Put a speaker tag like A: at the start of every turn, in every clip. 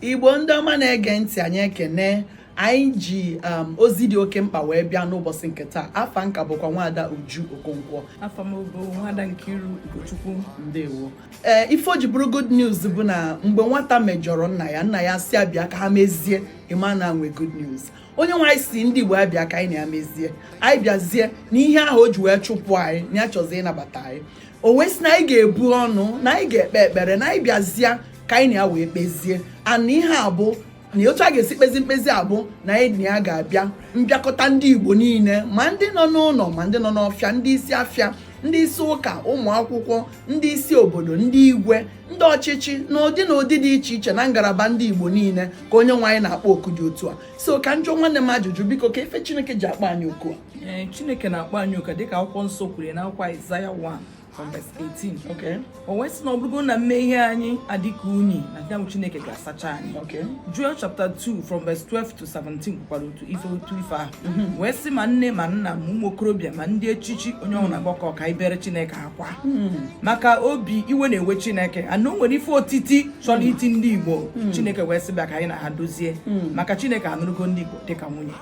A: igbo ndị ọma na-ege ntị anyị ekene anyị ji um, ozi dị oke mkpa wee bịa n'ụbọsị nke taa afa m ka bụkwa nwada uju okonkwo afa m bụ nwada nkiru ugochukwu ndewo ee eh, ife o ji bụrụ good news bụ na mgbe nwata mejọrọ nna ya nna ya sị ya bịa ka ha mezie ị ma na e nwe good news onye nwe anyị sị ndị Igbo anyị bịa ka anyị na ya mezie anyị bịazie na ihe ahụ o ji wee chụpụ anyị na ya chọzi ịnabata anyị o wee sị na anyị ga-ebu ọnụ na anyị ga-ekpe ekpere na anyị bịazie ka anyị na ya wee kpezie and ihe a bụ na otu a ga-esi kpezi mkpezi a bụ na anyị na ya ga-abịa mbịakọta ndị Igbo niile ma ndị nọ n'ụnọ ma ndị nọ n'ọfịa ndị isi afịa ndị isi ụka ụmụ akwụkwọ ndị isi obodo ndị igwe ndị ọchịchị n'ụdị na ụdị dị iche iche na ngalaba ndị Igbo niile ka onye nwe anyị na-akpọ oku dị otu a so ka m jụọ nwanne m ajụjụ biko kee ife Chineke ji akpọ anyị oku a Chineke na-akpọ anyị oku dịka akwụkwọ nsọ kwuru na akwụkwọ Aịzaya 1 18 o wee sị na ọ bụrụgo na mmehie anyị adịka unyi na ya bụ Chineke ga-asacha anyị Joel chapter 2 from verse 12 to 17 kwukwara otu ife otu ife ahụ mhm. wee sị ma nne ma nna ma ụmụ okorobịa ma ndị echichi onye ọbụla mhm. gbakọ ka e beere chineke akwa mhm. maka obi iwe na-ewe chineke and o nwere ife otiti chọrọ iti ndị igbo chineke wee sị bịa ka anyị na ha dozie maka chineke anụrụgo ndị igbo dịka nwunye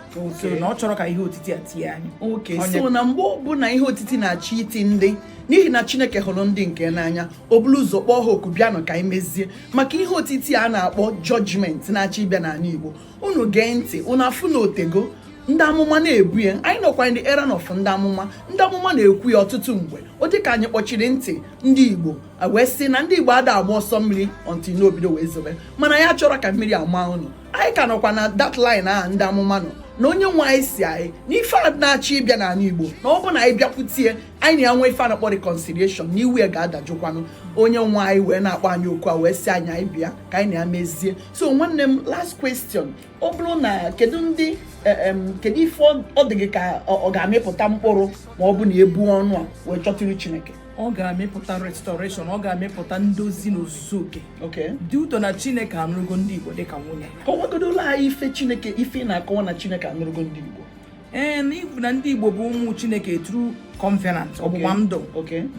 A: so na ọ chọrọ ka ihe otiti a tie anyị okay so na mgbe ọbụla ihe otiti na-achọ iti ndị n'ihi na chineke hụrụ ndị nke ya n'anya o buru ụzọ kpọọ ha oku bịanụ ka anyị mezie maka ihe otiti a na-akpọ judgment na-achọ ịbịa n'ala igbo unu gee ntị unu afụ na o tego ndị amụma na-ebu ya anyị nọkwa na era of ndị amụma ndị amụma na-ekwu ya ọtụtụ mgbe ọ dị ka anyị kpọchiri ntị ndị igbo wee sị na ndị igbo ada agba ọsọ mmiri until o bido wee zobe mana ya achọrọ ka mmiri maa unu anyị ka nọkwa na that line ahụ ndị amụma nọ na onye nwe anyị sị anyị na ife a na-achọ ịbịa n'anị igbo na ọ bụ na anyị bịakwute ya anyị na ya nwee ife a na-akpọ reconciliation na iwe ya ga-adajụkwanụ onye nwe anyị wee na-akpọ anyị oku a wee sị anyị anyị bịa ka anyị na ya mezie so nwanne m last question ọ bụrụ na kedu ndị eh, kedu ife ọ dị gị ka ọ ga-amịpụta mkpụrụ ma ọ bụ na e buo ọnụ a wee chọta iru Chineke ọ ga-amịpụta restoration ọ ga-amịpụta ndozi n'ozuzu oke dị ụtọ na chineke anụrụgo ndị igbo dịka nwunye kọwagodulu anyị ife chineke ife na-akọwa na chineke anụrụgo ndị igbo ee na-ekwu na ndị igbo bụ ụmụ chineke through covenant ọgbụgba ndụ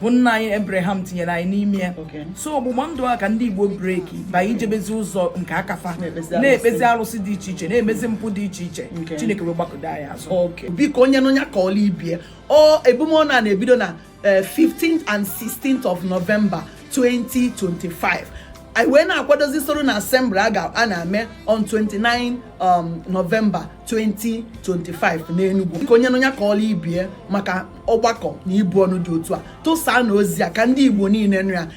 A: bụ nna anyị abraham tinyere anyị n'ime ya so ọgbụgba ndụ a ka ndị igbo break wee jebezi ụzọ nke aka fa na-ekpezi arụsị dị iche iche na-emezi mpụ dị iche iche chineke wee gbakọdo anyị azụ biko onye nụ nya kọọla ibe ya o ebumọnụ a na-ebido na 15th eh, and 16th of November 2025 anyị wee na-akwadozi solemn assembly a ga na-eme on 29 um, November 2025 n'Enugu biko onye nụ nya kọọla ibe ya maka ọgbakọ na ibu ọnụ dị otu a tụsaanụ ozi a ka ndị Igbo niile nụ ya